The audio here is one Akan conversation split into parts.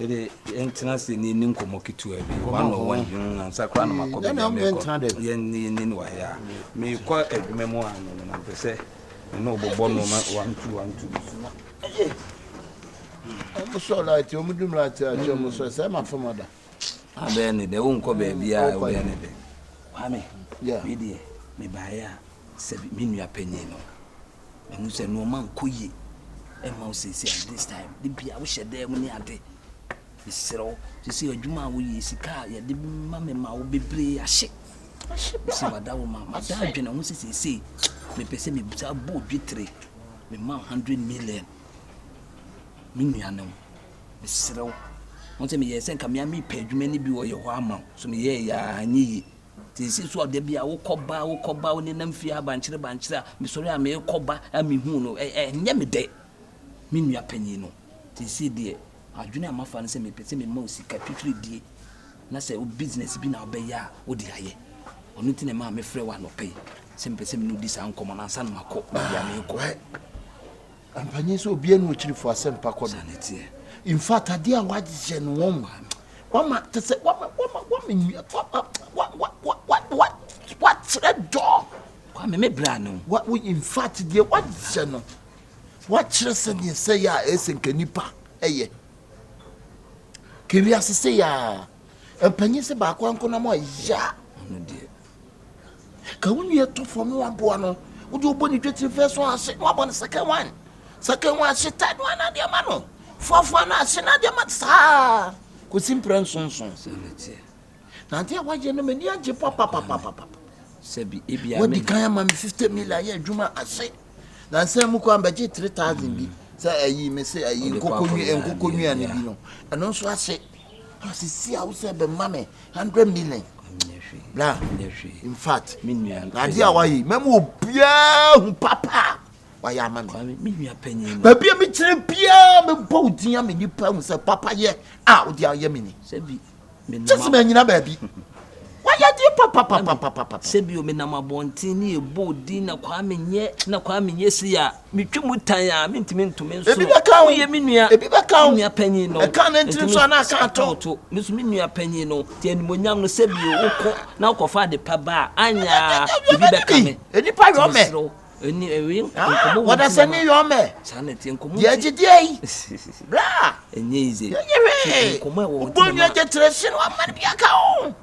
ɛde yɛntena sɛ ne ni nkɔmmɔ ketewa bi one on one hmm, ansa koraa na makɔ baabi a mekɔ yɛne yɛne no wɔ he a mekɔ adwuma mu a no no na mpɛ sɛ ɛne ɔbɔbɔ no ma one two one two bi so na ɛyɛ ɔmo sɔ light ɔmo dum light akyɛ ɔmo sɔ sɛ ɛma fam ada abɛyɛ ne dɛ wonkɔ baabiaa wobɛyɛ ne dɛ kwame medeɛ mebaeɛ a sɛ me nua panyin no mahu sɛ nnoɔma nkɔ yie ɛma wo sɛsi at this time de bia wohyɛ dɛ mu ne ade mesrɛ wo sɛsi adwuma a woyɛ sika a yɛde ma me ma wo bebree ahye sɛ wada wo ma mada adwene ho sɛ sɛsei mepɛ sɛ mebisa bɔ dwetire mema 100 million me nuanom Mesrɛ wo, hu sɛ meyɛɛ sɛ nka me ara merepɛ adwuma no bi wɔ yɛn hɔ ama wo, so meyɛeɛ a, anyɛ yie. Nti ɛsii so a da bi a wokɔba a, wokɔba a, wonenam fie ha bankyere bankyere a, mesɔre a merekɔba a mehuu no, ɛ, ɛnyɛ me dɛ, me nua panin no. Seesei deɛ, adwene a mafa ne sɛ mepɛ sɛ mema wo sika twitwiridie, na sɛ wo business bi na wobɛyɛ a, wode ayɛ. Ɔno nti na ɛmaa mefrɛɛ wo anɔpa yi, sɛ mepɛ sɛ me ne wo di saa nkɔmmɔ no ansa na makɔ baabi a merekɔ. Ampa nye sɛ obiara ne okyirifo asɛmpa kɔ do. In fact, adeɛ a wayɛ no wɔn wama te sɛ wama wama wama nua wama wa wa wa wa wa wakyerɛ dɔ. Kwame me bra no. Wa wo in fact deɛ wayɛ no wakyerɛ sɛ deɛ sɛ yɛ a ɛsɛ nka nipa ɛyɛ. Kewi ase se ya. Ampa nye sɛ baako ankonam a ya. Ɔno deɛ. Ka wo nua to fam na waboa no. Wode wobɔ ne dwetiri first one ase na wabɔ no second one. Second one ase third one na adeɛ ma no. Fourth one ase na adeɛ ma no saa. Kɔsi mprɛ nsonson. Na adeɛ a wayɛ no m'ani agye papapapapapa. Wadi kan ama me fifty million yɛ adwuma ase. Na nsɛn mu kɔ ambɛgye three thousand bi. Sɛ ayi me se ayi nkokɔ nwi nkokɔ nwi ane bi no. Ɛno nso ase. Asisi a wosɛ bɛ ma me hundred million. Bra. In fact, ade a wayɛ mɛmu obiara hu papa wayɛ ama me. Baabi a mekyerɛ biara mebɔ wo din a me nipa hu sɛ papa yɛ a wode ayɛ me ni. Kyɛ sɛ manyina baabi. Wayɛ adeɛ papapapapapa. Sɛ bio menam abɔnten ne yɛbɔ wo din na kwaa menyɛ na kwaa menyɛ sei a. Metwa mu tan a, mentumi nto me nsono. Ebi bɛka wo. Woyɛ me nua. Ebi bɛka wo. Me nua panyin no. Ɛka ne ntini so anaa ɛka ato. Ɛka to. Me nso me nua panyin no. Te animonyam no sɛ bio wokɔ na wokɔfa ade pa ba a, anya ebi bɛka me. Nnipa yɔ mɛ. Ɛni ɛwi nkɔmɔ wɔ. Wɔdasani yɔ mɛ. Saa na ɛte nkɔmɔ. Deɛ gyidie yi. Bra. Ɛnyɛ yize. Ɛnyɛ hwee. Nkɔmɔ ɛwɔ. Obonyo agye tire si no amane bi aka wo.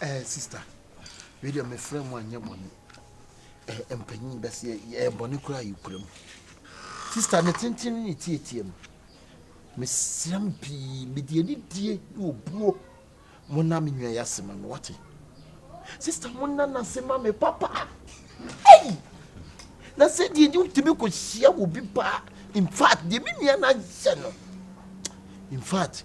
Eh, sista, wei deɛ mefrɛ mu anyɛ bɔne. Eh, mpanyin bɛseɛ, yɛ bɔne koraa yi kura mu. Sista, ne tenten ne ne tietie mu. Mesrɛ mo pii, mede anidie ne obuo mo na me nua yɛ ase ma me, wate? Sista, mo na no ase ma me papa. Ei! Na sɛ deɛ deɛ wotumi kɔhyia wɔ bi paa. In fact, deɛ me nua no ayɛ no. In fact,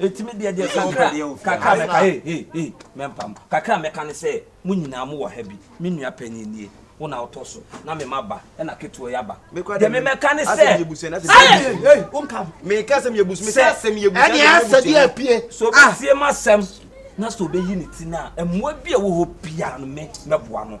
ɛtumi deɛ deɛ kakra kakra mɛka hei hei hei mɛmpam kakra mɛka ne sɛ mo nyinaa mo wɔ ha bi me nua panyin nie wo na wotɔ so na me ma ba ɛna ketewa yɛ aba deɛ me mɛka ne sɛ meka sɛ meyɛ busu mesɛ asɛm yɛ busu ɛne asɛ deɛ apue so bɛtie ma asɛm na sɛ ɔbɛyi ne ti no a mmoa bi a wɔ hɔ biara no me mɛboa no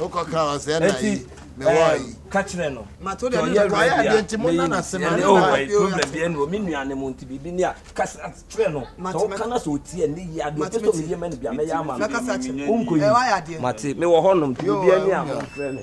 Enti ka kyerɛ no deɛ ɔyɛ werɛ bi a mɛyi no si ɛnne oh my problem bi ɛnne o me nua ne mu nti biribi ni a kasa kyerɛ no sɛ ɔka na sɛ ɔti ɛnne yi adeɛ ɔpɛ sɛ ɔmɛdi ɛma no bi a mɛyɛ ama no wonkɔ yi mate mewɔ hɔ nom nti biribi ni a monfrɛ me.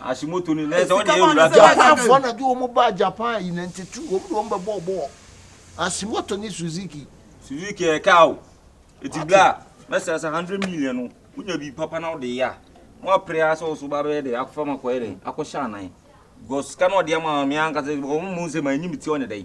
Japanfoɔ na de wɔn baa Japan in ninety two wɔn de wɔn bɛ bɔɔ bɔɔl Ashimoto ne Suzuki. Suzuki yɛ kaa o eti bla mɛsɛ sɛ hundred million no wonya bi papa na ɔde yɛ a mo apere asɛ ɔso ba bɛyɛ dɛ akɔfa ma kɔyɛ dɛ akɔhyɛ anan because sika na ɔde ama mi ankasa wɔn mu nsɛm a enyim ti ɔne dɛ.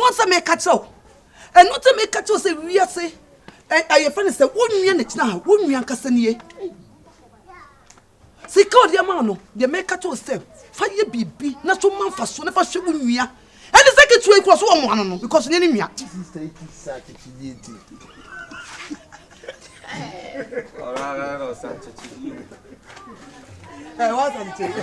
Wɔn sɛ meka kyerɛ wo. Ɛno nti meka kyerɛ wo sɛ wiase ɛyɛ fɛ no sɛ wo nua na gyina ha wo nua ankasa nie. Sika ɔde ama no deɛ meka kyerɛ wo sɛ fa yɛ biribi na so ma mfa so na fa hwɛ wo nua. Ɛne sɛ ketewa yi kura so wɔn ano no because ne ne nua. Ɔrara ɔsa kyekye bio. Ẹ wá sàn kyekye.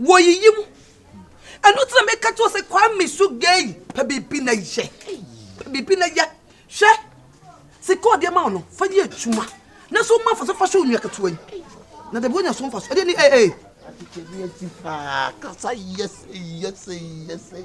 Wɔyiyi wo. Ɛno nti na meka kyerɛ wo sɛ Kwame Sugei pɛ biribi na yɛ. Pɛ biribi na yɛ. Hwɛ sika a ɔde ama wo no fa yɛ adwuma na so ma fa so fa hyɛ onua ketewa yi. Na dabi wonya so mfa so. Ɛdeɛ ni ee ee. Adekyɛ bi asi paa kasa yɛsɛ yɛsɛ yɛsɛ.